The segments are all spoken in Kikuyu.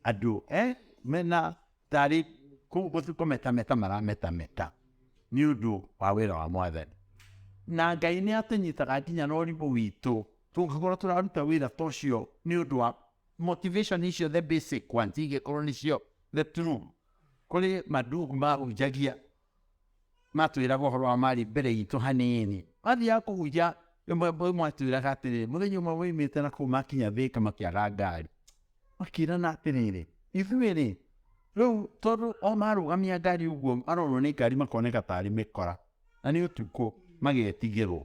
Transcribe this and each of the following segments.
andũ eh, mena tarĩ kũ- gũ- kũmetameta marametameta nĩ ũndũ wa wĩra wa mwathani na ngai nĩ atũnyitaga nginya na ũrimũ witũ tũngĩkorwo tũraruta wĩra ta ũcio nĩ ũndũ wa motivation icio the basic ones ingĩkorwo nĩcio the true kũrĩ mandugu mahunjagia Matwĩraga ũhoro wa marĩ mbere itũ hanini. Mathiaga kũhunjia ĩmwe ĩmwe mwatwĩraga atĩrĩrĩ mũthenya ũmwe moimĩte na kũu makinya thĩka makĩaga ngari makĩrana atĩrĩrĩ ithuĩ rĩ rĩu tondũ o marũgamia ngari ũguo marorwo nĩ ngari makoneka tarĩ mĩkora na nĩ ũtukũ magetigĩrwo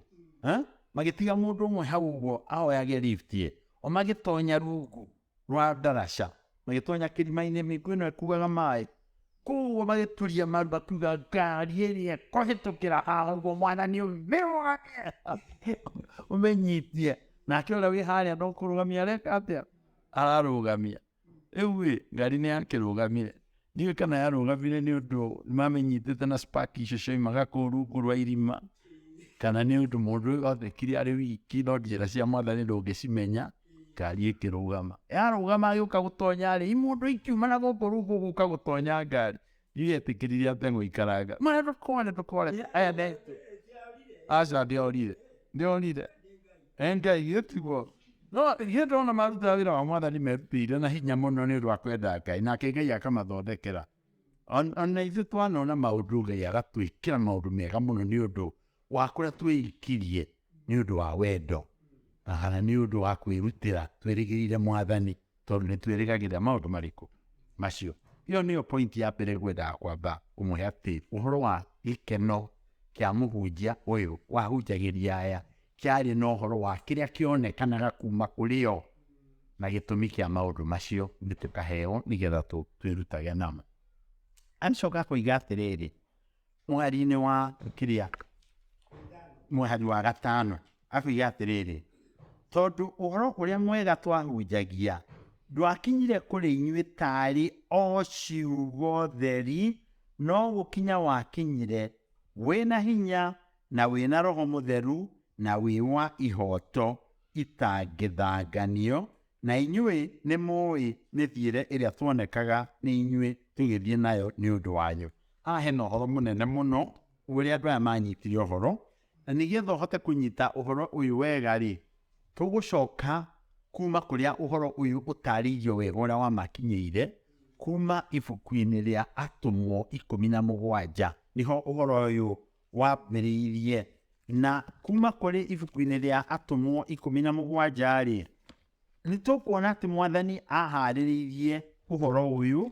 magĩtiga mũndũ ũmwe hau ũguo ahoyage lift ye o magĩtonya rungu rwa Ndarasha, magĩtonya kĩrima-inĩ, mĩigua ĩno ĩkuaga maĩ, koguo magĩturia maru makiuga ngari ĩrĩa kũhĩtũkĩra haha ũguo mwana nĩ ũmĩrũgamie ũmĩnyitie nake ũrĩa wĩ harĩa no kũrũgamia areka atĩa ararũgamia rĩu ĩ ngari nĩ yakĩrũgamire Niĩ kana yarũgamire nĩ ũndũ nĩmamenyitĩte na spaki icio cioimaga kũu rungu rwa irima kana nĩ ũndũ mũndũ ũyũ athekire arĩ wiki no njĩra cia mwathani ndũngĩcimenya ngari ĩkĩrũgama yarũgama agĩũka gũtonya rĩ imũndũ ikiuma na gũkũ rungu gũka gũtonya ngari ndiretĩkĩrire ate gũikaranga mwana ndũkore ndũkore aya ne aca ndĩorire ndĩorire Endia ithuĩ tiguo. No ithuĩ ndona marutaga wĩra wa mwathani merutĩire na hinya mũno nĩ ũndũ wa kwenda Ngai, nake Ngai akamathondekera. Ona ithuĩ twanona maũndũ Ngai agatwĩkĩra maũndũ mega mũno nĩ ũndũ wa kũrĩa twĩikirie nĩ ũndũ wa wendo na nĩ ũndũ wa kwĩrutĩra twĩrĩgĩrĩire mwathani Tondũ nĩ twĩrĩgagĩrĩra maũndũ marĩkũ? Macio. Ĩyo nĩyo point ya mbere ngwendaga kwamba ũmũhe atĩ ũhoro wa gĩkeno kĩa mũhunjia ũyũ wahunjagĩria aya kĩarĩ na ũhoro wa kĩrĩa kĩonekanaga kuma kũrĩ o na gĩtũmi kĩa maũndũ macio nĩ tũkaheo nĩgetha twĩrutage namo. Acoka akoiga atĩrĩrĩ, Mweri-inĩ wa kĩrĩa, mweri wa gatano, akoiga atĩrĩrĩ, tondũ ũhoro ũrĩa mwega twahunjagia ndwakinyire kũrĩ inyuĩ taarĩ o ciugo theri, no gũkinya wakinyire wĩna hinya na wĩna roho mũtheru na wĩ wa ihoto itangĩthanganio, Na inyuĩ nĩ mũĩ mĩthiĩre ĩrĩa tuonekaga nĩ inyuĩ tũgĩthiĩ nayo nĩ ũndũ wanyu. Haha hena ũhoro mũnene mũno ũrĩa andũ aya manyitire ũhoro, na nĩgetha ũhote kũnyita ũhoro ũyũ wega-rĩ, tũgũcoka kuma kũrĩa ũhoro ũyũ ũtarĩirio wega ũrĩa wamakinyĩire kuma ibuku-inĩ rĩa Atũmwo ikũmi na mũgwanja, nĩho ũhoro ũyũ wambĩrĩirie. Na kuma kũrĩ ibuku-inĩ rĩa Atũmwo ikũmi na mũgwanja-rĩ, nĩ tũkuona atĩ mwathani aharĩrĩirie ũhoro ũyũ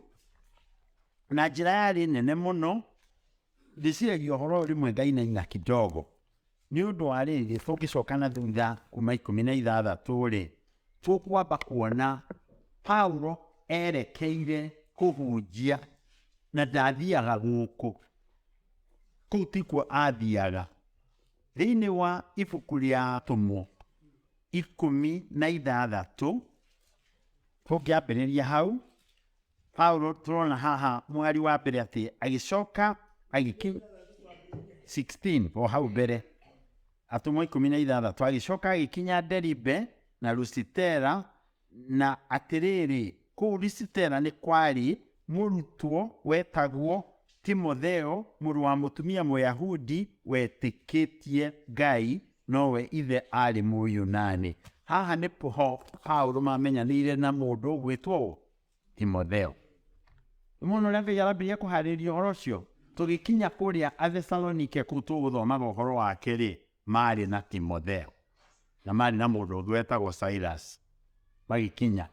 na njĩra yarĩ nene mũno ndĩciragia ũhoro ũyũ rĩmwe ngainaina kidogo nĩ ũndũ wa rĩrĩ tũngĩcoka na thutha kuma ikũmi na ithathatũ-rĩ tũkwamba kuona paulo erekeire kũhunjia na ndathiaga gũkũ Kũu tikuo aathiaga. Thĩinĩ wa ibuku rĩa atũmwo ikũmi na ithathatũ tũngĩambĩrĩria hau Paulo tũrona haha mũhari wa mbere atĩ agĩcoka agĩki 16 o hau mbere atũmwo ikũmi na ithathatũ agĩcoka agĩkinya Deribe na Lusitera Na atĩrĩrĩ, kũu Lisitera nĩ kwarĩ mũrutwo wetagwo Timotheo, mũrũ wa mũtumia Mũyahudi wetĩkĩtie Ngai, nowe ithe aarĩ Mũyunani. Haha nĩ ho Paulo maamenyanĩire na mũndũ ũgwĩtwo ũ? Timotheo. Mũno ũrĩa Ngai arambĩrĩria kũharĩria ũhoro ũcio tũgĩkinya kũrĩa Athesalonike kũu tũgũthomaga ũhoro wake rĩ maarĩ na Timotheo na maarĩ na mũndũ ũngĩ wetagwo Silas magĩkinya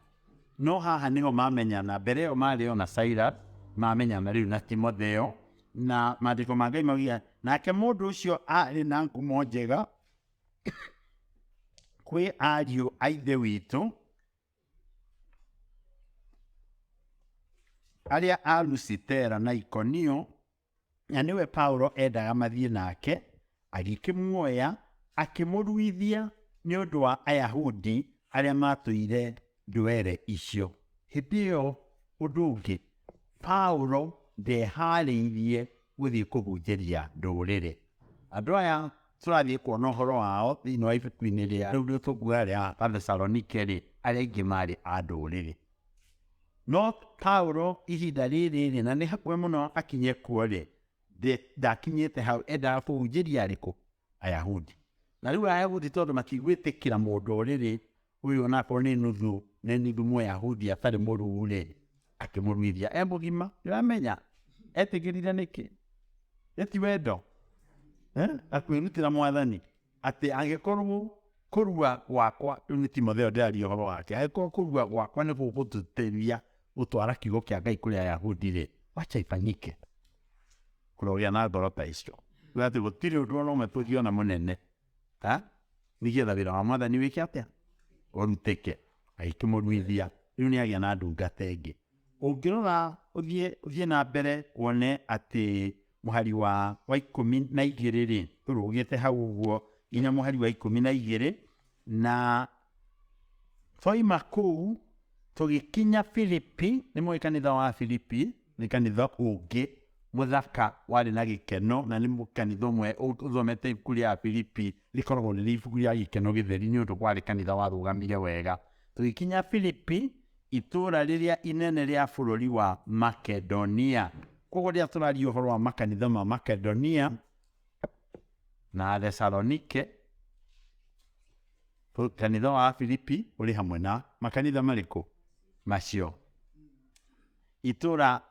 no haha nĩho mamenyana mbere ĩyo maarĩ o na Silas mamenyana rĩu na Timotheo na maandĩko ma Ngai maugia nake mũndũ ũcio arĩ na ngumo njega kwĩ ariũ a ithe witũ arĩa a Lusitera na Ikonio, na nĩwe Paulo endaga mathiĩ nake, agĩkĩmuoya akĩmũruithia nĩ ũndũ wa Ayahudi arĩa matũire ndwere icio. Hĩndĩ ĩyo ũndũ ũngĩ, Paulo ndeharĩirie gũthiĩ kũhunjĩria ndũrĩrĩ. Andũ aya tũrathiĩ kuona ũhoro wao thĩinĩ wa ibuku-inĩ rĩa rĩu rĩu tũkuga rĩa Athesalonike-rĩ, arĩa aingĩ maarĩ a ndũrĩrĩ. No Paulo ihinda rĩrĩ-rĩ, na nĩ hakuhĩ mũno akinye kuo-rĩ, ndakinyĩte hau, endaga kũhunjĩria arĩkũ? Ayahudi. Na rĩu Ayahudi tondũ matigwĩtĩkĩra mũndũ ũrĩrĩ Uyu anakorwo ni nuthu ni nuthu Muyahudi atari muruu ri, akimuruithia e mugima. Ndiramenya etigirire niki? Yu ti wendo? Na kwirutira Mwathani ati angikorwo kurua gwakwa, riu ni Timotheo ndiraria uhoro wake, angikorwo kurua gwakwa ni gugututethia gutwara kiugo kia Ngai kuri Ayahudi ri, wacha ifanyike. Kurogia na ngoro ta icio. Gutiri undu ona umwe tungiona munene. eh? Nĩ getha wĩra wa mwathani wĩke atĩa? Ũrutĩke. Agĩtũmwo Luithia. Rĩu nĩ agĩa na ndungata ĩngĩ. Ũngĩrora ũthiĩ ũthiĩ na mbere wone atĩ mũhari wa wa ikũmi na igĩrĩ rĩ tũrũgĩte hau ũguo nginya mũhari wa ikũmi na igĩrĩ na twaima kũu tũgĩkinya Filipi nĩ mũĩ kanitha wa Filipi Nĩ kanitha ũngĩ mũthaka warĩ na gĩkeno, na nĩ kanitha ũmwe ũthomete ibuku rĩa Filipi rĩkoragwo rĩrĩ ibuku rĩa gĩkeno gĩtheri nĩ ũndũ kwarĩ kanitha warũgamire wega. Tũgĩkinya Filipi, itũũra rĩrĩa inene rĩa bũrũri wa Makedonia. Koguo rĩrĩa tũraria ũhoro wa makanitha ma Makedonia na Thesalonike, kanitha wa Filipi ũrĩ hamwe na makanitha marĩkũ macio? Itũũra,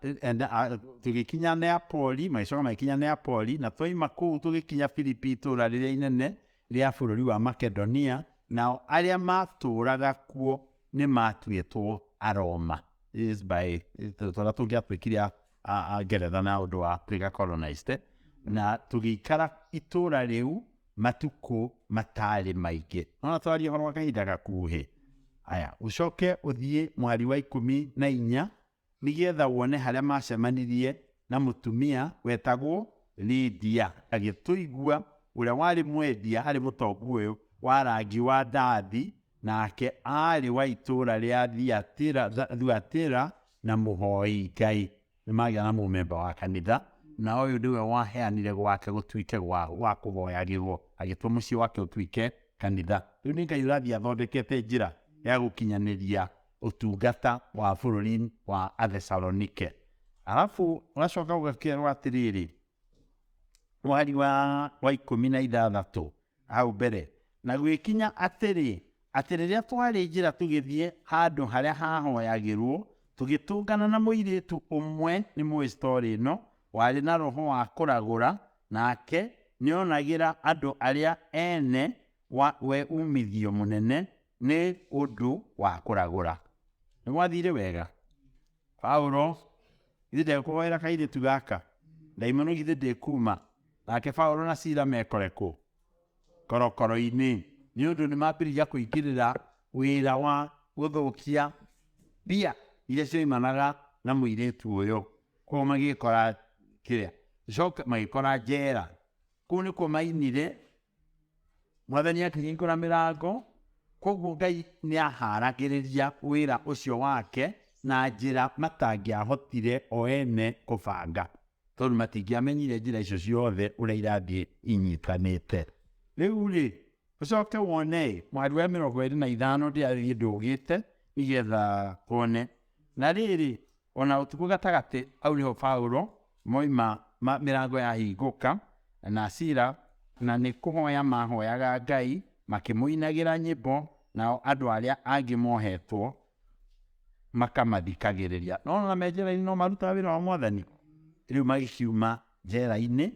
tũgĩkinya Neapoli, magĩcoka magĩkinya Neapoli, na twaima kũu tũgĩkinya Filipi itũũra rĩrĩa inene rĩa bũrũri wa Makedonia, nao arĩa maatũũraga kuo nĩ maatuĩtwo Aroma. Yes, by tũrĩa tũngĩatuĩkire a- a- a Ngeretha na ũndũ wa twĩka colonized. Na tũgĩikara itũũra rĩu matukũ mataarĩ maingĩ ona twaria ũhoro wa kahinda gakuhĩ aya ũcoke ũthiĩ mwari wa ikũmi na inya nĩgetha wone harĩa macemanirie na mũtumia wetagwo Lydia agĩtũigua ũrĩa warĩ mwendia harĩ mũtongu ũyũ wa rangi wa ndathi nake aarĩ wa itũũra rĩa Thiatira, Thuatira na mũhoi Ngai Nĩmagĩa na mũmemba wa kanitha, na ũyũ nĩwe waheanire gwake gũtuĩke gwa, gwa kũhoyagĩrwo, agĩtua mũciĩ wake ũtuĩke kanitha. Rĩu nĩ Ngai ũrathiĩ athondekete njĩra ya gũkinyanĩria ũtungata wa bũrũri wa Athesalonike. Arabu ũgacoka ũgakerwo atĩrĩrĩ, mweri wa, wa ikũmi na ithathatũ hau mbere na gwĩkinya atĩrĩ atĩ rĩrĩa twarĩ njĩra tũgĩthiĩ handũ harĩa hahoyagĩrwo tũgĩtũngana na mũirĩtu ũmwe nĩ mũĩ story ĩno warĩ na roho wa kũragũra nake nĩonagĩra andũ arĩa ene wa, we umithio mũnene nĩ ũndũ wa kũragũra nĩ gwathire wega Paulo, Githĩ ndekũhoera kairĩtu gaka? Ndaimono githĩ ndĩkuma? Nake Paulo na Sila mekore kũ? Korokoro-inĩ, nĩ ũndũ nĩ mambĩrĩria kũingĩrĩra wĩra wa gũthũkia mbia iria cioimanaga na mũirĩtu ũyũ. Kũu magĩkora kĩrĩa, coke magĩkora njera. Kũu nĩkuo mainire Mwathani akĩhingũra mĩrango, kwoguo Ngai nĩ ahaaragĩrĩria wĩra ũcio wake na njĩra matangĩahotire o ene kũbanga, tondũ matingĩamenyire njĩra icio ciothe ũrĩa irathiĩ inyitanĩte. Rĩu-rĩ, ũcoke wone-ĩ, mũhari wa mĩrongo ĩrĩ na ithano ndĩathiĩ ndũgĩte nĩgetha wone. Na rĩrĩ, O na ũtukũ gatagatĩ, hau nĩho Paulo moima ma mĩrango yahingũka, na Sila, na nĩ kũhoya maahoyaga Ngai makĩmũinagĩra nyĩmbo, nao andũ arĩa angĩ mohetwo makamathikagĩrĩria. Nĩwona me njera-inĩ no marutaga wĩra wa Mwathani? Rĩu magĩkiuma njera-inĩ.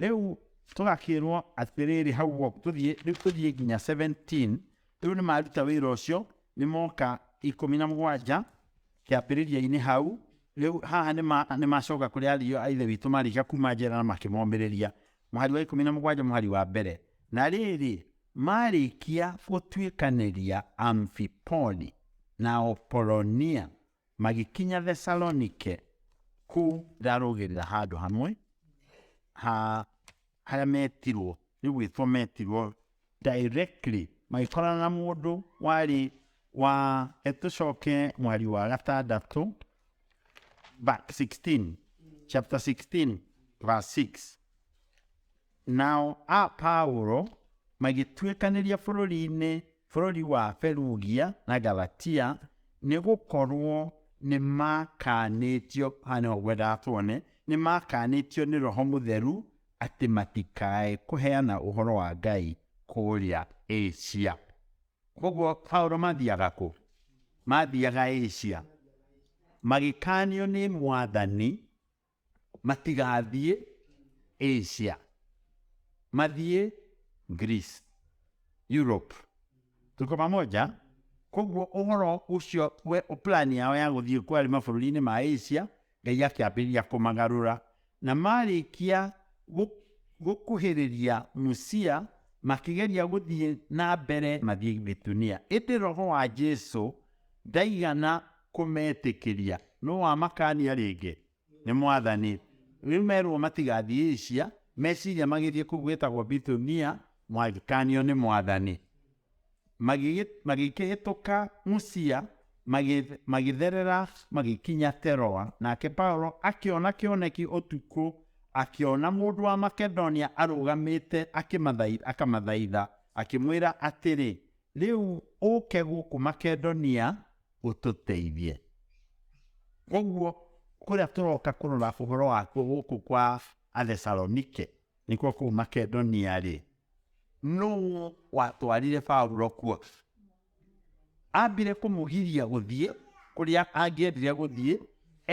Rĩu tũgakĩrwo atĩrĩrĩ, hau ũguo tũthiĩ, rĩu tũthiĩ nginya 17, rĩu nĩ maruta wĩra ũcio, nĩ moka ikũmi na mũgwanja, Kĩambĩrĩria-inĩ hau, rĩu haha nĩ ma, nĩ macoka kũrĩ ariũ a Ithe witũ marĩka kuuma njera na makĩmomĩrĩria. Mũhari wa ikũmi na mũgwanja mũhari wa mbere. Na rĩrĩ, maarĩkia gũtuĩkanĩria Amfipoli na Opolonia, magĩkinya Thesalonike, kũu ndarũgĩrĩra handũ hamwe ha arĩa metirwo nĩ gwĩtwo metirwo directly magĩkorana na mũndũ warĩ wa tũcoke mwari wa gatandatũ ba- 16 chapter 16 verse 6 nao a paulo magĩtuĩkanĩria bũrũri-inĩ bũrũri wa Perugia na Galatia, nĩ gũkorũo nĩ maakanĩtio, haha nĩho ngwendaga tuone, nĩ maakanĩtio nĩ Roho Mũtheru atĩ matikae kũheana ũhoro wa Ngai kũrĩa Asia. Koguo Paulo mathiaga kũ? Mathiaga Asia. Magĩkanio nĩ mwathani Matigathiĩ Asia, mathiĩ Greece, Europe. Tuko pamoja? Koguo ũhoro ũcio we plan yao ya gũthiĩ kwarĩ mabũrũri-inĩ ma Asia, Ngai akĩambĩrĩria kũmagarũra. Na marĩkia gũ- gũkuhĩrĩria Musia, makĩgeria gũthiĩ na mbere mathiĩ Bitunia. Ĩndĩ roho wa Jesu Ndaigana kũmetĩkĩria. No wamakaania rĩngĩ. Nĩ mwathani. Rĩu merwo matigathiĩ Asia, meciria magĩthiĩ kũu gwĩtagwo Bithunia, magĩkaanio nĩ mwathani. Magĩgĩ- Magĩkĩhĩtũka Musia, magĩ- magĩtherera magĩkinya Teroa. Nake Paulo akĩona kĩoneki ũtukũ, akĩona mũndũ wa Makedonia arũgamĩte akĩmathaitha, akamathaitha, akĩmwĩra atĩrĩ, Rĩu ũke gũkũ Makedonia ũtũteithie. Koguo kũrĩa tũroka kũrora ũhoro wakuo gũkũ kwa Athesalonike, nĩkuo kũu Makedonia-rĩ, nũũ watwarire Paulo kuo? Ambire kũmũgiria gũthiĩ kũrĩa angĩendire gũthiĩ,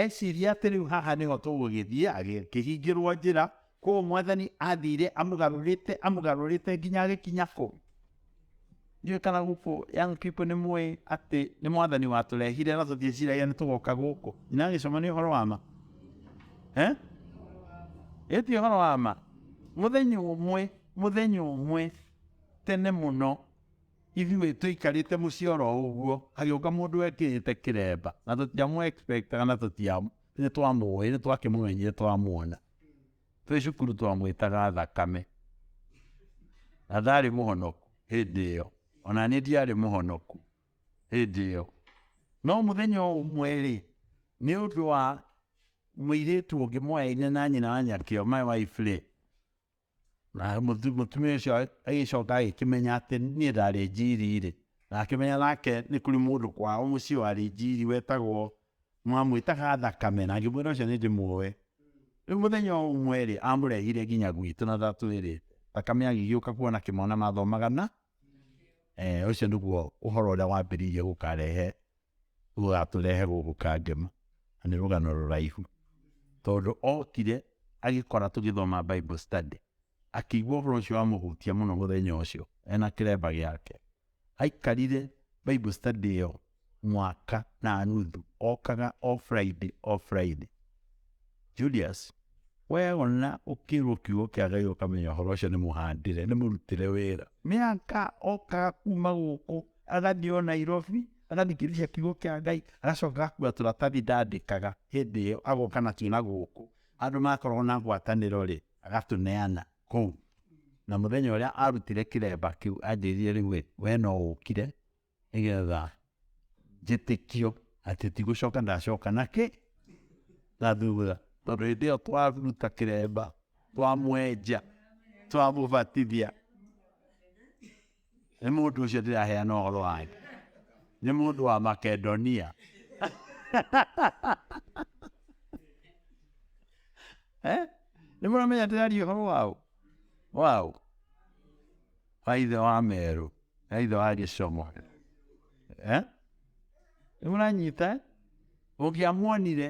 eciria atĩ rĩu haha nĩho tũgũgĩthiĩ, agĩkĩhingĩrwo njĩra, Kũu mwathani athiire amũgarũrĩte amũgarũrĩte nginya agĩkinya kũ? Ndiũĩ kana gũkũ young people nĩ mũĩ atĩ nĩ mwathani watũrehire na tũtieciragia nĩ tũgoka gũkũ. Nyina agĩcoma nĩ ũhoro wa ma. Eh? Ĩyo ti ũhoro wa ma. Mũthenya ũmwe, mũthenya ũmwe tene mũno ithuĩ tũikarĩte mũciĩ oro ũguo hagĩũka mũndũ wekĩrĩte kĩremba na tũtiamũ expect kana tũtiamũ nĩ twamũĩ nĩ twakĩmũmenyire twamwona Twĩ cukuru twamwĩtaga thakame, na ndarĩ mũhonoku hĩndĩ ĩyo, ona niĩ ndiarĩ mũhonoku hĩndĩ ĩyo. No mũthenya ũmwe-rĩ, nĩ ũndũ wa mũirĩtu ũngĩ moyaine na nyina wa Nyakĩo, my wife-rĩ, Na mũtu- mũtumia ũcio a- agĩcoka agĩkĩmenya atĩ niĩ ndarĩ njiri-rĩ, na akĩmenya nake nĩ kũrĩ mũndũ kwao mũciĩ warĩ njiri wetagwo, mamwĩtaga Thakame, na ngĩmwĩra ũcio nĩndĩmuoe. Rĩu mũthenya o ũmwe-rĩ, amũrehire nginya gwitũ na ndatwĩrĩte. Thakame agĩgĩũka kuona kĩmwana mathomaga na, ũcio nĩguo ũhoro ũrĩa wambĩrĩirie gũkarehe ũratũrehe gũkũ Kangema, na nĩ rũgano rũraihu, tondũ okire agĩkora tũgĩthoma Bible study, akĩigua ũhoro ũcio wamũhutia mũno mũthenya ũcio ena kĩremba gĩake. Aikarire Bible study ĩyo mwaka na nuthu, okaga o Friday o Friday. Julius, weyona ũkĩrwo kiugo kĩa Ngai ũkamenya ũhoro ũcio nĩ mũhandĩre, nĩ mũrutĩre wĩra. Mĩaka okaga kuma gũkũ agathiĩ o nairobi agathikĩrĩria kiugo kĩa ngai agacoka agakua tũratathi ndandĩkaga hĩndĩ ĩyo agoka natuo na gũkũ andũ makoragwo na ngwatanĩro rĩ agatũneana kũu na mũthenya ũrĩa arutire kĩremba kĩu anjĩrire rĩu ĩ we no ũkire nĩgetha njĩtĩkio atĩ tigũcoka ndacoka na kĩ na thutha tondũ hĩndĩ ĩyo twaruta kĩremba twamwenja twamũbatithia Nĩ mũndũ ũcio ndĩraheana ũhoro wake nĩ mũndũ wa makedonia Eh? nĩ mũramenya ndĩraria ũhoro wao wao wa ithe wa merũ na ithe wa gĩcomo Eh? nĩ mũranyita ũngĩamuonire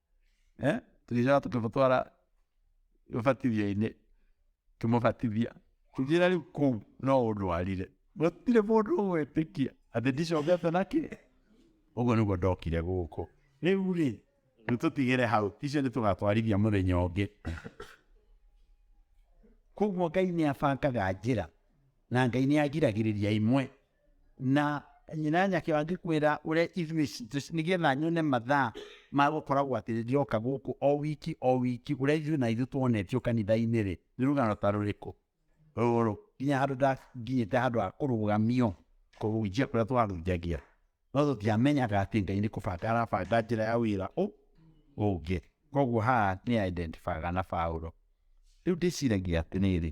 eh? tũgĩcoka tũkĩmũtwara ũbatithio-inĩ kĩmũbatithia tũgĩra rĩu kũu no ũndwarire gũtirĩ mũndũ ũgwĩtĩkia atĩ ndicokete na kĩ ũguo nĩguo ndokire gũkũ rĩu rĩ nĩ tũtigĩre hau icio nĩ tũgatwarithia mũthenya ũngĩ koguo ngai nĩ abangaga njĩra na ngai nĩ agiragĩrĩria imwe Na nyina nyake angĩkwĩra ũrĩa ithuĩ citũ nĩgetha nyone mathaa ma gũkoragwo atĩ ndĩroka gũkũ o wiki o wiki ũrĩa ithuĩ na ithuĩ tuonetio kanitha-inĩ rĩ nĩ rũgano ta rũrĩkũ rũrũ nginya handũ ndakinyĩte handũ ha kũrũgamio kũhunjia kũrĩa twarunjagia no tũtiamenyaga atĩ ngai nĩ kũbanga arabanga njĩra ya wĩra ũ ũngĩ koguo haha nĩ identifyaga na Paulo rĩu ndĩciragia atĩrĩrĩ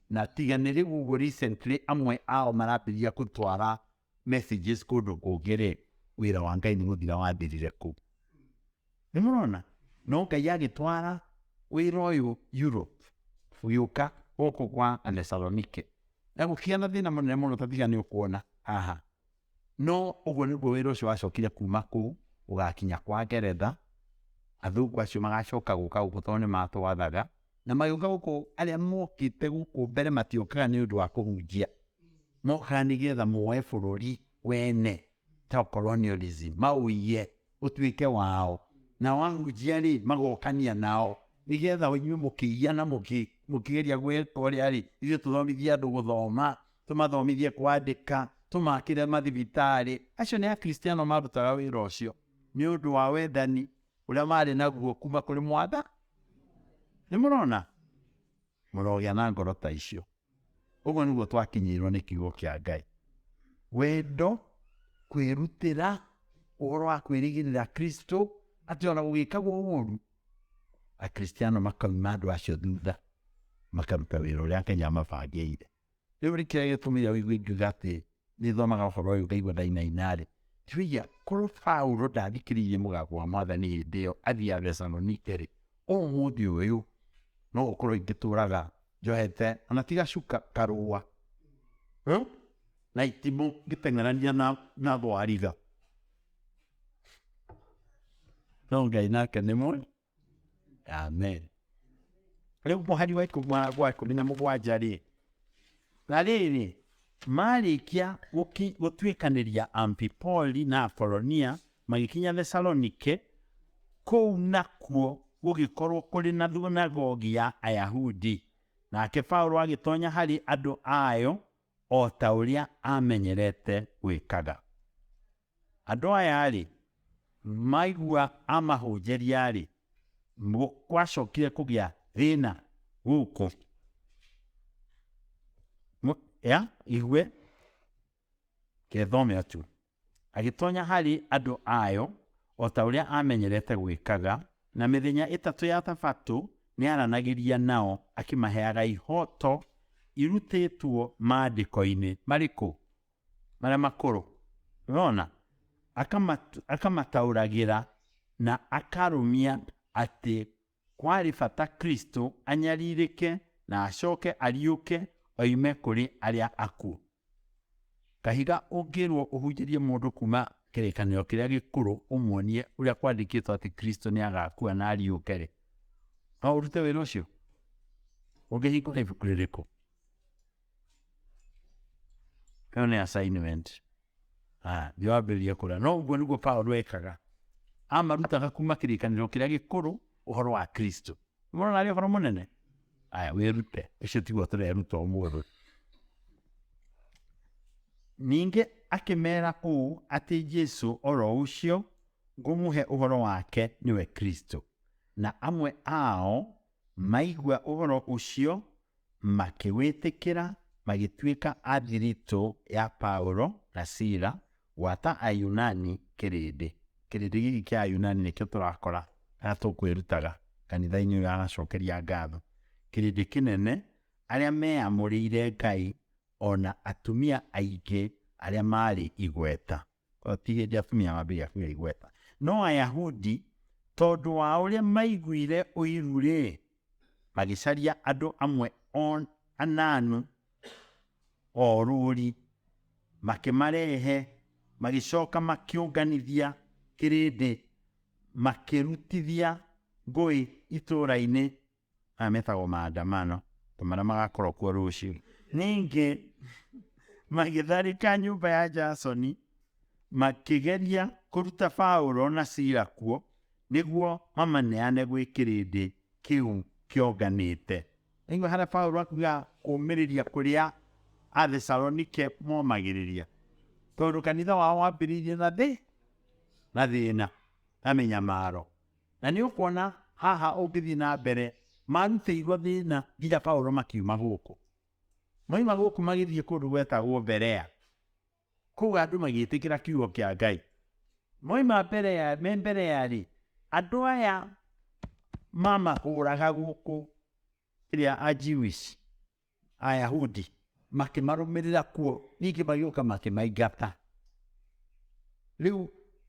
Na tiga nĩ rĩu ũguo recently amwe ao marambĩrĩria gũtwara messages kũndũ kũngĩ rĩ, wĩra wa Ngai nĩ gũthira wathirire kũu. Nĩ mũrona? No Ngai agĩtwara wĩra ũyũ Europe ũgĩũka gũkũ kwa Athesalonike. Na gũkĩgĩa na thĩna mũnene mũno ta tiga nĩ ũkuona haha. No ũguo nĩguo wĩra ũcio wacokire kuuma kũu ũgakinya kwa Ngeretha, athũngũ acio magacoka gũka gũkũ tondũ nĩ matwathaga, na magĩũka gũkũ arĩa mokĩte gũkũ mbere matiokaga nĩ ũndũ wa kũhunjia, mokaga nĩ getha moe bũrũri wene ta colonialism, maũiye ũtuĩke wao nao ahunjia rĩ magokania nao nigetha inyuĩ mũkĩiya na mũkĩgeria gwĩka ũrĩa rĩ ithuĩ tũthomithie andũ gũthoma tũmathomithie kwandĩka tũmakĩre mathibitarĩ acio nĩ akristiano marutaga wĩra ũcio nĩ ũndũ wa wendani ũrĩa marĩ naguo kuma kũrĩ mwatha nĩ mũrona mũrogĩa na ngoro ta icio Ũguo nĩguo twakinyĩirwo nĩ kiugo kĩa Ngai. Wendo, kwĩrutĩra, ũhoro wa kwĩrĩgĩrĩra Kristo, atĩ ona gũgĩkagwo ũũru, Akristiano makauma andũ acio thutha, makaruta wĩra ũrĩa Ngai amabangĩire. Rĩu nĩ kĩrĩa gĩtũmire ũigue ingiuga atĩ nĩ thomaga ũhoro ũyũ ngaigua ndainaina-rĩ, ngĩũria korwo Paulo ndathikĩrĩirie mũgambo wa mwathani hĩndĩ ĩyo athiĩ Athesalonike-rĩ, ũmũthĩ ũyũ no gũkorwo ingĩtũraga njohete ona ti gacuka karũa hmm? na itimũ ngĩteng'erania na, na thwariga no ngai nake nĩ mwega Amen. Rĩu mũhari wa ikũmi wa wa ikũmi na mũgwanja-rĩ, na rĩrĩ, marĩkia gũki- gũtuĩkanĩria Amphipoli na Apolonia, magĩkinya Thesalonike, kũu nakuo gũgĩkorwo kũrĩ na thunagogi ya Ayahudi. Nake Paulo agĩtonya harĩ andũ ayo, o ta ũrĩa aamenyerete gwĩkaga. Andũ aya-rĩ, maigua amahũnjĩria-rĩ, gwacokire kũgĩa thĩna gũkũ ya igue kethome atu Agĩtonya harĩ andũ ayo o ta ũrĩa aamenyerete gwĩkaga, na mĩthenya ĩtatũ ya Thabatũ nĩaranagĩria nao akĩmaheaga ihooto irutĩtwo Maandĩko-inĩ. Marĩkũ? Marĩa makũrũ. Ũrona? Akamataũragĩra na akarũmia atĩ Kwarĩ bata Kristo anyarirĩke na acoke ariũke oime kũrĩ arĩa akuũ. Kahiga ũngĩrũo ũhunjĩrie mũndũ kuuma Kĩrĩkanĩro Kĩrĩa Gĩkũrũ ũmuonie ũrĩa kwandĩkĩtwo atĩ Kristo nĩ agaakua na ariũke-rĩ, no ũrute wĩra ũcio? Ũngĩhingũra ibuku rĩrĩkũ? Ĩyo nĩ assignment. Ah, nĩ wambĩrĩria kũrĩa. No ũguo nĩguo Paulo ekaga. Amarutaga kuma kĩrĩkanĩro kĩrĩa gĩkũrũ ũhoro wa Kristo. Mwana arĩ ũhoro mũnene. Aya, wĩrute. Ũcio tiguo tũreruta ũmũthĩ. Ningĩ akĩmera ũũ atĩ Jesu oro ũcio ngũmũhe ũhoro wake nĩwe Kristo. Na amwe ao Maigua ũhoro ũcio, makĩwĩtĩkĩra, magĩtuĩka a thiritũ ya Paulo na Sila, gwata Ayunani kĩrĩndĩ. Kĩrĩndĩ gĩkĩ kĩa Ayunani nĩkĩo tũrakora kana tũkwĩrutaga kanitha-inĩ ũyũ aracokeria ngatho. Kĩrĩndĩ kĩnene, arĩa meamũrĩire Ngai, o na atumia aingĩ arĩa maarĩ igweta. O ti hĩndĩ atumia mambĩrĩria kũgĩa igweta. No Ayahudi, tondũ wa ũrĩa maiguire ũiru-rĩ, magĩcaria andũ amwe o ananu o rũũri, makĩmarehe, magĩcoka makĩũnganithia kĩrĩndĩ, makĩrutithia ngũĩ itũũra-inĩ maya metagwo maandamano, ta marĩa magakorwo kuo rũciũ. Ningĩ magĩtharĩka nyũmba ya Jasoni, makĩgeria kũruta Paulo na Sila kuo, nĩguo mamaneane gwĩ kĩrĩndĩ kĩu kĩonganĩte. Nĩguo harĩa Paulo akuga kũmĩrĩria kũrĩa Athesalonike momagĩrĩria, tondũ kanitha wao wambĩrĩirie na thĩ na thĩna na mĩnyamaro. Na nĩ ũkuona haha ũngĩthiĩ na mbere, maarutĩirwo thĩna nginya Paulo makiuma gũkũ. Moima gũkũ magĩthiĩ kũndũ gwetagwo Berea. Kũu andũ magĩtĩkĩra kiugo kĩa Ngai. Moima Berea, me Berea-rĩ, andũ aya mamahũraga gũkũ, ĩrĩa a Jewish. Ayahudi makĩmarũmĩrĩra kuo ningĩ magĩũka makĩmaingata rĩu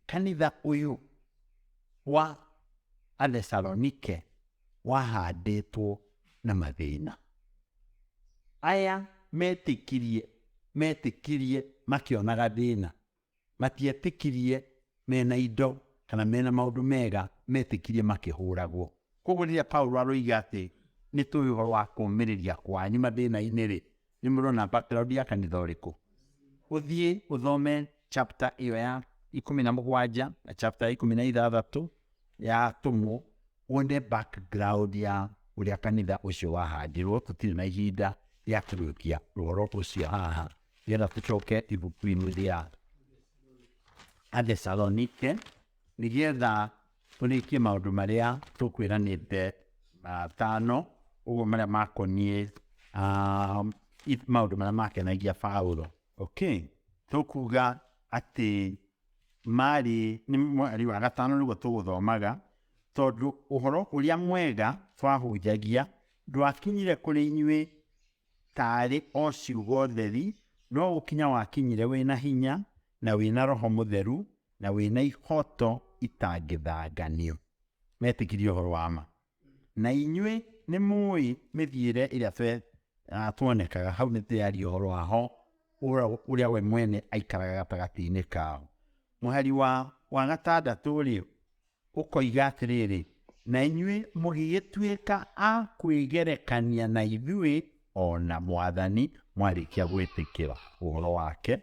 kanitha ũyũ wa athesalonike wahandĩtwo na mathĩna aya metĩkirie metĩkirie makĩonaga thĩna matietĩkirie mena indo kana mena maũndũ mega, metĩkirie makĩhũragwo. Koguo rĩrĩa Paulo aroiga atĩ nĩ tũĩ ũhoro wa kũũmĩrĩria kwanyu mathĩna-inĩ-rĩ, nĩ mũrona background ya kanitha ũrĩkũ? Ũthiĩ ũthome chapter ĩyo ya ikũmi na mũgwanja na chapter ya ikũmi na ithathatũ ya Atũmwo, wone background ya ũrĩa kanitha ũcio wahandirwo. Tũtirĩ na ihinda rĩa kũrĩkia ũhoro ũcio haha. Yena kuchoke ivukwimilia ande salonike nigetha tũrĩkie maũndũ marĩa tũkwĩranĩte matano ũguo marĩa makoniĩ ah, i- maũndũ marĩa makenagia Paulo okay tũkuga atĩ marĩ nĩ mweri wa gatano nĩguo tũgũthomaga tondũ ũhoro ũrĩa mwega twahunjagia ndwakinyire kũrĩ inyuĩ taarĩ o ciugo theri, no gũkinya wakinyire wĩna hinya, na wĩna Roho Mũtheru, na wĩna ihoto itangĩthanganio. Metĩkirie ũhoro wa ma. Na inyuĩ nĩ mũĩ mĩthiĩre ĩrĩa twe ah, tuonekaga hau nĩ tũyaria ũhoro wa ho ũra- ũrĩa we mwene aikaraga gatagatĩ-inĩ kao. Mũhari wa wa gatandatũ-rĩ, Ũkoiga atĩrĩrĩ, Na inyuĩ mũgĩgĩtuĩka a kwĩgerekania na ithuĩ, o na Mwathani mwarĩkia gwĩtĩkĩra ũhoro wake,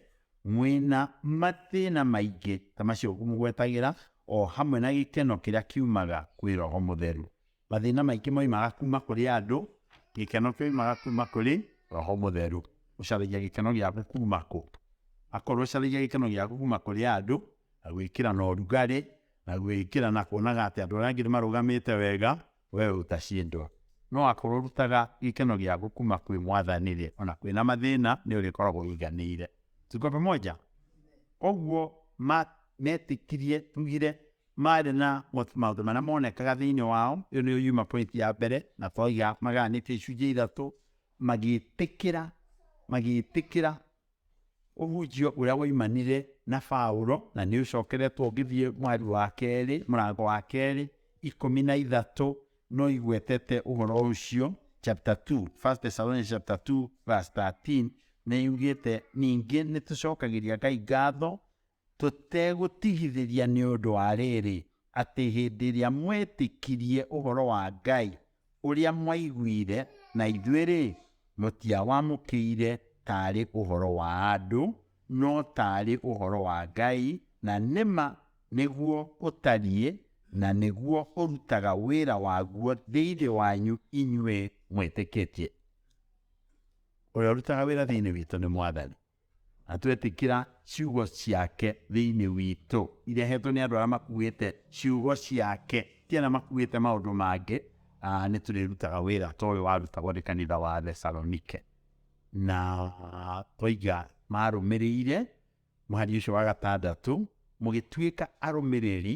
mwĩna mathĩna maingĩ ta macio ngũmũgwetagĩra, o hamwe na gĩkeno kĩrĩa kiumaga kwĩ Roho Mũtheru. Mathĩna maingĩ moimaga kuma kũrĩ andũ, gĩkeno kĩoimaga kuma kũrĩ Roho Mũtheru. Ũcaragia gĩkeno gĩaku kuma kũ? Akorwo ũcaragia gĩkeno gĩaku kuma kũrĩ andũ, na gwĩkĩra na ũrugarĩ, na gwĩkĩra na kuonaga atĩ andũ arĩa angĩ nĩmarũgamĩte wega, we ũtacindwo. No akorwo ũrutaga gĩkeno gĩaku kuma kwĩ Mwathani-rĩ, ona kwĩna mathĩna nĩũrĩkoragwo ũiganĩire. Tuko pamoja? Koguo metĩkirie, tugire, Maarĩ na maũndũ marĩa monekaga thĩinĩ wao, ĩyo nĩyo yuma point ya mbere, na twaiga magayanĩtio icunjĩ ithatũ, magĩtĩkĩra magĩtĩkĩra ũhunjio ũrĩa waimanire na Paulo, na nĩ ũcokeretwo ũngĩthiĩ mwari wa kerĩ, mũrango wa kerĩ, ikũmi na ithatũ, no igwetete ũhoro ũcio, chapter 2, 1 Thessalonians chapter 2 verse 13, nĩ yugĩte ningĩ nĩ tũcokagĩria Ngai ngatho Tũtegũtigithĩria nĩ ũndũ wa rĩrĩ, atĩ hĩndĩ ĩrĩa mwetĩkirie ũhoro wa Ngai ũrĩa mwaiguire na ithuĩ-rĩ, mũtiawamũkĩire taarĩ ũhoro wa andũ, no taarĩ ũhoro wa Ngai, na nĩ ma nĩguo ũtariĩ, na nĩguo ũrutaga wĩra waguo thĩinĩ wanyu inyuĩ mwĩtĩkĩtie. Ũrĩa ũrutaga wĩra thĩinĩ witũ nĩ Mwathani. na twetĩkĩra ciugo ciake thĩinĩ witũ irehetwo nĩ andũ arĩa makuĩte ciugo ciake ti arĩa makuĩte maũndũ mangĩ ah, nĩ tũrĩrutaga wĩra ta ũyũ warutagwo nĩ kanitha wa thesalonike na toiga marũmĩrĩire mũhari ũcio wa gatandatũ mũgĩtuĩka arũmĩrĩri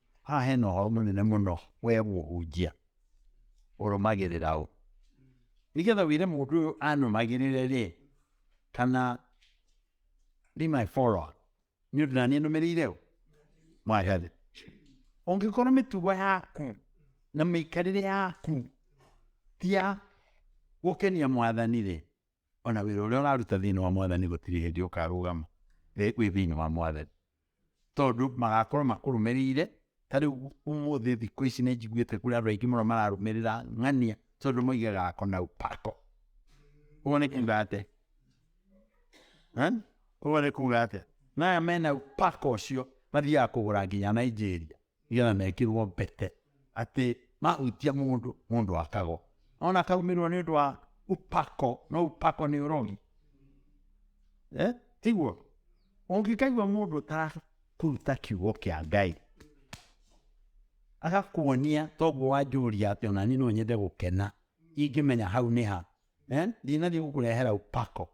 Haha hena ũhoro mũnene mũno we mũhunjia ũrũmagĩrĩra ũ nĩgetha wĩre mũndũ ũyũ anũmagĩrĩre rĩ kana be my follower nĩ ũndũ naniĩ nũmĩrĩire ũ mwathani ũngĩkorwo mĩtugo yaku na mĩikarĩre yaku ti ya gũkenia mwathani rĩ ona wĩra ũrĩa ũraruta thĩinĩ wa mwathani gũtirĩ hĩndĩ ũkarũgama wĩ thĩinĩ wa mwathani tondũ magakorwo makũrũmĩrĩire, ta rĩu ũmũthĩ thikũ ici nĩ njiguĩte kũrĩ andũ aingĩ mũno mararũmĩrĩra ng'ania tondũ moigaga ako na upako. Ũguo nĩ kuga atĩa? Ũguo nĩ kuga atĩa? Maya mena upako ũcio mathiaga kũgũra nginya Nigeria. nĩgetha mekĩrwo mbete atĩ mahunjia mũndũ mũndũ akagwo ona akaumĩrwo nĩ ũndũ wa upako no upako nĩ ũrogi eh? tiguo ũngĩkaigua mũndũ ũtarakũruta kiugo kĩa ngai agakuonia toguo wanjũria atĩ ona niĩ no nyende gũkena ingĩmenya hau nĩ ha Ee, thina nĩgũkũrehera ũpako.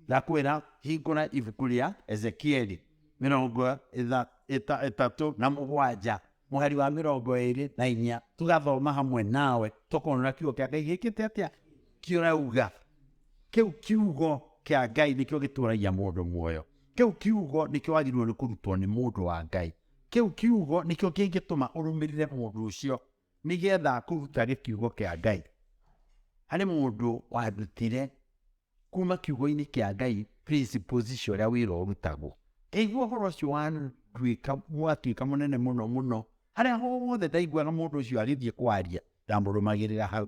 Ndakwĩra hingũra ibuku rĩa Ezekieli mĩrongo ĩtha- ĩta- ĩtatũ na mũgwanja mũhari wa mĩrongo ĩrĩ na inya tũgathoma hamwe nawe tũkona kiugo kĩa Ngai gĩkĩte atĩa kĩrauga kĩu kiugo kĩa ngai nĩkĩo gĩtũragia mũndũ muoyo kĩu kiugo nĩkĩo wagĩrĩirwo nĩ kũrutwo nĩ mũndũ wa ngai kĩu kiugo nĩkĩo kĩngĩtũma ũrũmĩrĩre mũndũ ũcio nĩ getha kũruta nĩ kiugo kĩa Ngai. Harĩ mũndũ wandutire kuma kiugo-inĩ kĩa Ngai principles cia ũrĩa wĩra ũrutagwo. Ngaigua ũhoro ũcio wanduĩka watuĩka mũnene mũno mũno, harĩa hothe ndaiguaga mũndũ ũcio agĩthiĩ kwaria, ndamũrũmagĩrĩra hau.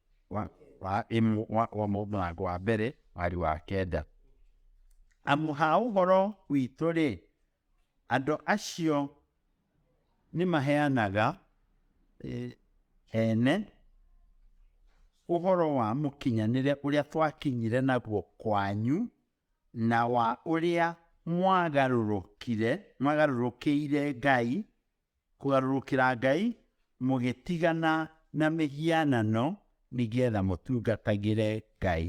wa wa ĩmwe wa, wa mũrango wa mbere mwari wa kenda amu ha ũhoro witũ-rĩ andũ acio nĩ maheanaga eh, ene ũhoro wa mũkinyanĩre ũrĩa twakinyire naguo kwanyu na wa ũrĩa mwagarũrũkire mwagarũrũkĩire Ngai Kũgarũrũkĩra Ngai mũgĩtigana na mĩhianano nĩgetha mũtungatagĩre Ngai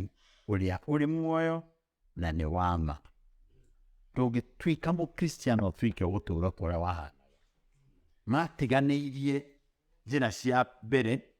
ũrĩa ũrĩ muoyo na nĩ wa ma. Ndũngĩtuĩka mũkristiano ũtuĩke gũtũũra kũrĩa wahana matiganĩirie njĩra cia mbere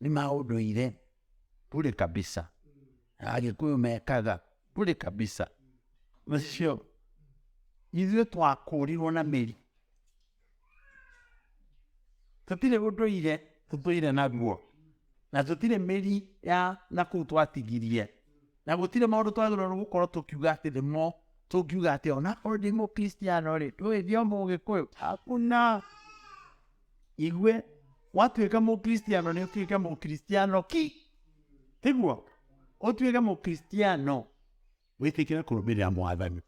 nĩ ma ũndũire bure kabisa agĩkũyũ mekaga bure kabisa nĩcio ithuĩ twakũrirwo na mĩri tũtirĩ ũndũire tũtũire naguo na tũtirĩ mĩri ya na kũu twatigirie na gũtirĩ maũndũ twagĩrĩirwo gũkorwo tũkiuga atĩ nĩmo tũngiuga atĩ ona korwo ndĩ mũkristiano rĩ ndũĩ thiomo ũgĩkũyũ hakuna Igue, gwatuĩka mũkristiano nĩ ũtuĩke mũkristiano ki tiguo ũtuĩke mũkristiano wĩtĩkĩre kũrũmĩrĩra mwathani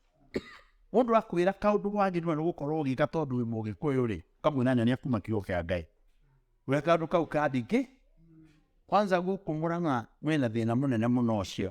mũndũ akwĩra kaũndũ wagĩrĩirwo nĩ gũkorwo ũgĩka tondũ wĩ mũgĩkũyũ rĩ ũkamwĩra nyonia kuma kiugo kĩa ngai we kaũndũ kau kandingĩ kwanza gũkũ mũrang'a mwĩna thĩna mũnene mũno ũcio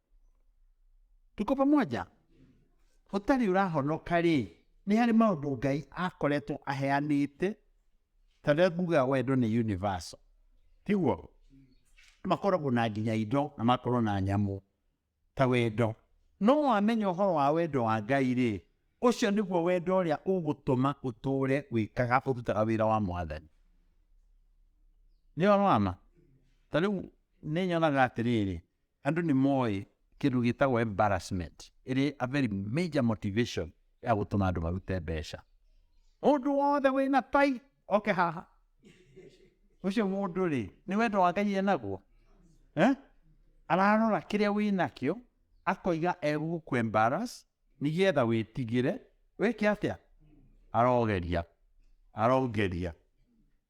Tuko pamoja? Ũtarĩ ũrahonoka-rĩ, nĩ harĩ maũndũ Ngai akoretwo aheanĩte, ta rĩrĩa ngugaga wendo nĩ universal, tiguo? Makoragwo na nginya indo na makorwo na nyamũ ta wendo. No wamenya ũhoro wa wendo wa Ngai-rĩ, ũcio nĩguo wendo ũrĩa ũgũtũma ũtũũre wĩkaga ũrutaga wĩra wa mwathani. Nĩ ũhoro wa ma? Ta rĩu nĩ nyonaga atĩrĩrĩ, Andũ nĩ moĩ kĩndũ gĩtagwo embarrassment ĩrĩ a very major motivation ya gũtũma andũ marute mbeca. Mũndũ wothe wĩ na tai oke haha, ũcio mũndũ rĩ nĩ wendo wa Ngai enaguo eh? ararora kĩrĩa wĩ nakĩo akoiga egũkũ embarrass nĩgetha wĩtigĩre wĩke atĩa arogeria arogeria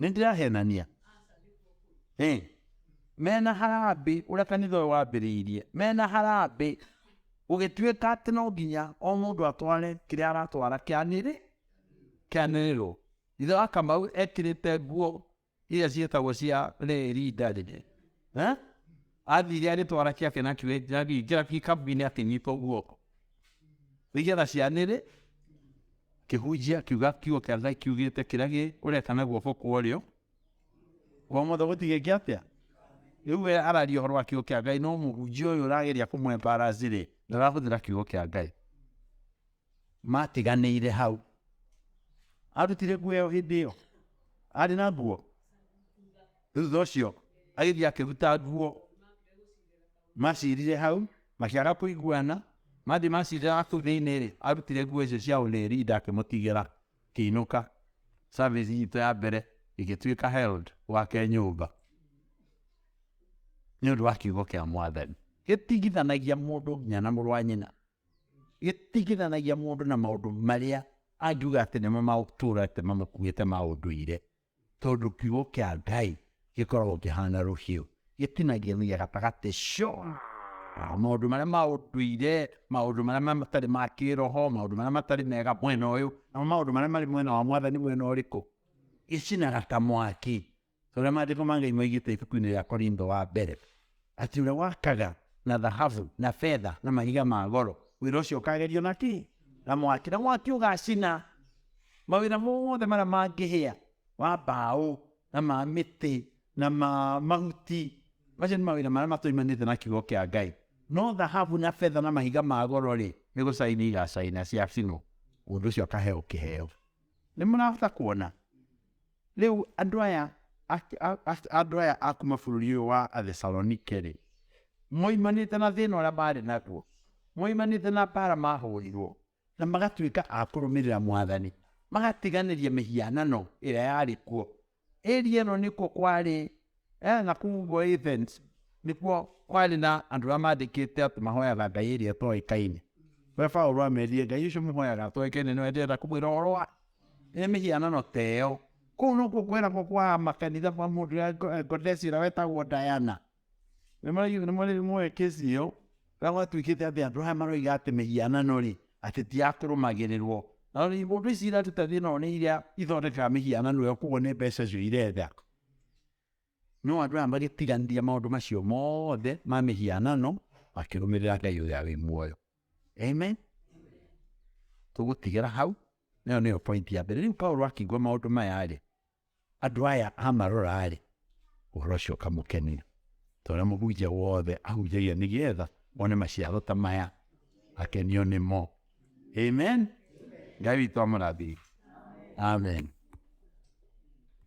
Nĩndĩrahenania? Ĩ! Me na harambĩ ũrĩa kanitha ũyũ wambĩrĩirie, me na harambĩ gũgĩtuĩka atĩ no nginya o mũndũ atware kĩrĩa aratwara kĩanĩrĩ, kĩanĩrĩrwo. Ithe wa Kamau ekĩrĩte nguo iria ciĩtagwo cia rĩĩri ndarĩ. Eh? Athire agĩtwara kĩake na kĩrĩa kĩrathiĩ kĩra gĩkambinĩ akĩnyita guoko nĩgetha cianĩrĩ kĩhunjia kiuga kiugo kĩa Ngai kiugĩte kĩrĩa gĩ ũreka na guoko kwa ũrĩo kwa mothe gũtigĩ kĩa atĩa rĩu we araria ũhoro wa kiugo kĩa Ngai no mũhunjia ũyũ ũrageria kũmwembaracirĩ ndarahũthĩra kiugo kĩa Ngai Maatiganĩire hau. Aarutire nguo ĩyo hĩndĩ ĩyo? Aarĩ na nguo? Thutha ũcio agĩthiĩ akĩruta nguo. Macirire hau, makĩaga kũiguana, mathiĩ macirira kũu thĩinĩ-rĩ, arutire nguo icio cia ũrĩri ndakĩmũtigĩra kĩinũka. Service itũ ya mbere ĩgĩtuĩka held gwake nyũmba nĩ ũndũ wa kiugo kĩa mwathani. Gĩtigithanagia mũndũ nginya na mũrũ wa nyina. gĩtigithanagia mũndũ na maũndũ marĩa angiuga atĩ nĩmo magũtũra atĩ mamũkuĩte ma ũndũire tondũ kiugo kĩa ngai gĩkoragwo kĩhana rũhiũ gĩtinagia nginya gatagatĩ cio maũndũ marĩa ma ũndũire maũndũ marĩa matarĩ ma kĩroho maũndũ marĩa matarĩ mega mwena ũyũ namo maũndũ marĩa marĩ mwena wa mwathani mwena ũrĩkũ gĩcinaga ta mwaki Ta ũrĩa maandĩko ma Ngai moigĩte ibuku-inĩ rĩa Korintho wa mbere, atĩ ũrĩa wakaga na thahabu na betha na mahiga ma goro, wĩra ũcio ũkagerio na kĩ? Na mwaki, na mwaki ũgacina mawĩra mothe marĩa mangĩhĩa, wa mbaũ na ma mĩtĩ na ma mahuti. Macio nĩ mawĩra marĩa matoimanĩte na kiugo kĩa Ngai. No thahabu na betha na mahiga ma goro-rĩ, nĩ gũcaina igacaina ciacinwo, mũndũ ũcio akaheo kĩheo. Nĩ mũrahota kuona? Rĩu andũ aya andũ aya a kuma bũrũri ũyũ wa Athesalonike-rĩ, moimanĩte na thĩna ũrĩa maarĩ naguo, moimanĩte na mbaara mahũrirwo, na magatuĩka a kũrũmĩrĩra Mwathani, magatiganĩria mĩhianano ĩrĩa yarĩ kuo. Area ĩno nĩkuo kwarĩ eh na kũu ũvoo Athens nĩkw'o kwalĩ na andũ ala mathĩkĩte atĩ mahoyaga ngai ĩlĩ ĩtoĩkaine. We Vaulo amelie, Ngai ũsu mũhoyaga atoekaine nĩwendete ata kũmwĩra ũvolo wa e mĩhianano ta ĩyo? Kũu nokw'o kwĩnako kwa amakanitha ma mũndũ ya Ngondesi ũla wetagwo Diana. Nĩmũĩ kĩsi ĩyo? Ĩla kwatw'ĩkĩte atĩ andũ aya maroiga atĩ mĩhianano-rĩ, atĩ ti ya kũrũmagĩrĩrwo. Na ũndũ ici iratũ ta thĩ ĩno nĩ iria ithondekaga mĩhianano ĩyo, kwoguo nĩ mbeca cio iretha. No andũ aya magĩtiganĩria maũndũ macio mothe ma mĩhianano makĩrũmĩrĩra Ngai ũrĩa wĩ muoyo. Amen. Tũgũtigĩra hau, nayo nĩyo point ya mbere. Rĩu Paulo akĩigua maũndũ maya-rĩ, andũ aya amarora-rĩ, ũhoro ũcio ũkamũkenia. Tondũ mũhunjia wothe ahunjagia nĩgetha one maciaro ta maya, akenio nĩmo. Amen. Ngai witũ amũrathime. Amen.